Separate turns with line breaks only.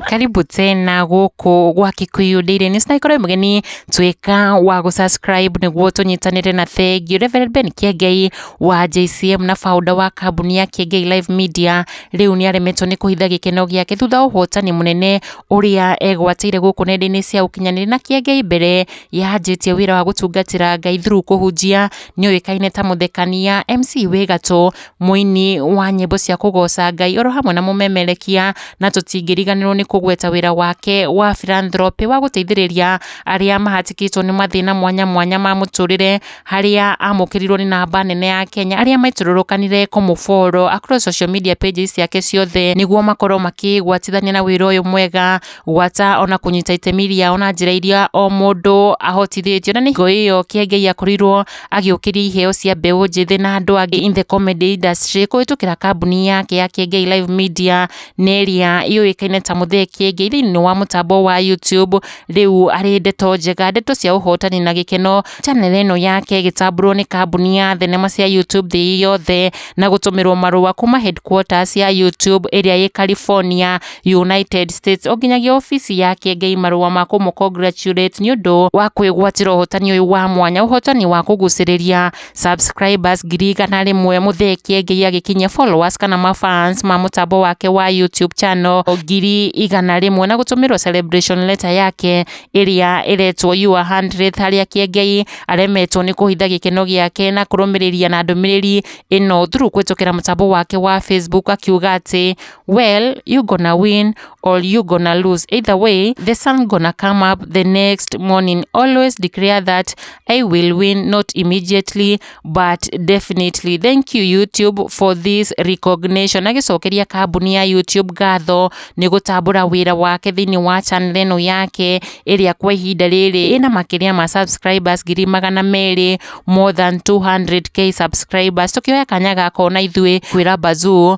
karibu tena gũkũ gwa Kikuyu Daily News na ikorwo mũgeni twĩka wa gũ subscribe nĩguo tũnyitanĩre na thengiũ Reverend Ben Kiengei wa JCM na founder wa kambuni ya Kiengei Live Media rĩu nĩ aremetwo nĩ kũhitha gĩkeno gĩake thutha wa ũhotani mũnene ũrĩa egwatĩire gũkũ nenda-inĩ cia ũkinyanĩria na Kiengei mbere Yaanjĩtie wĩra wa gũtungatĩra Ngai through kũhunjia, nĩ ũĩkaine ta mũthekania, MC wĩ gatũ, mũini wa nyĩmbo cia kũgoca Ngai oro hamwe na mũmemerekia, na tũtingĩriganĩrwo nĩ kũgweta wĩra wake wa philanthropy wa gũteithĩrĩria arĩa mahatĩkĩtwo nĩ mathĩna mwanya mwanya ma mũtũrĩre, harĩa amũkĩrirwo nĩ namba nene ya Kenya, arĩa maitũrũrũkanire kũmũ follow across social media pages ciake ciothe, nĩguo makorwo makĩgwatithania na wĩra ũyũ mwega, gwata ona kũnyita itemi rĩao na njĩra iria o mũndũ ahotithĩtio na nĩ hingo ĩyo Kĩengei akorirwo agĩũkĩria iheo cia mbeũ njĩthĩ na andũ angĩ in the comedy industry kũhĩtũkĩra kambuni yake ya Kĩengei Live Media na ĩrĩa yũĩkaine ta Mũthee Kĩengei thĩinĩ wa mũtambo wa YouTube rĩu arĩ ndeto njega ndeto cia ũhotani na gĩkeno channel ĩno yake ĩgĩtambũrwo nĩ kambuni ya thenema cia YouTube thĩ yothe na gũtũmĩrwo marũa kuma headquarters ya YouTube ĩrĩa ĩ California United States o nginyagia obici ya Kĩengei marũa ma kũmũ congratulate nĩ ũndũ wa kwĩgwatĩra ũhotani ũyũ wa mwanya, ũhotani wa kũgucĩrĩria subscribers ngiri igana rĩmwe, mũthee Kĩengei agĩkinyia followers kana ma fans ma mũtambo wake wa YouTube channel ngiri igana rĩmwe na gũtũmĩrwo celebration letter yake ĩrĩa ĩretwo your hundredth harĩa Kĩengei aremetwo nĩ kũhitha gĩkeno gĩake na kũrũmĩrĩria na ndũmĩrĩri ĩno through kũhĩtũkĩra mũtambo wake wa Facebook akiuga atĩ Well you gonna win or you gonna lose either way the sun gonna come up the next morning always declare that I will win not immediately but definitely thank you YouTube for this recognition agĩcokeria kambuni ya YouTube ngatho nĩ gũtambũra wĩra wake thĩinĩ wa channel ĩno yake ĩrĩa kwa ihinda rĩrĩ ĩna makĩria ma subscribers ngiri magana merĩ more than 200k subscribers tũkĩoya kanya gaka ona ithuĩ kwĩra Bazoo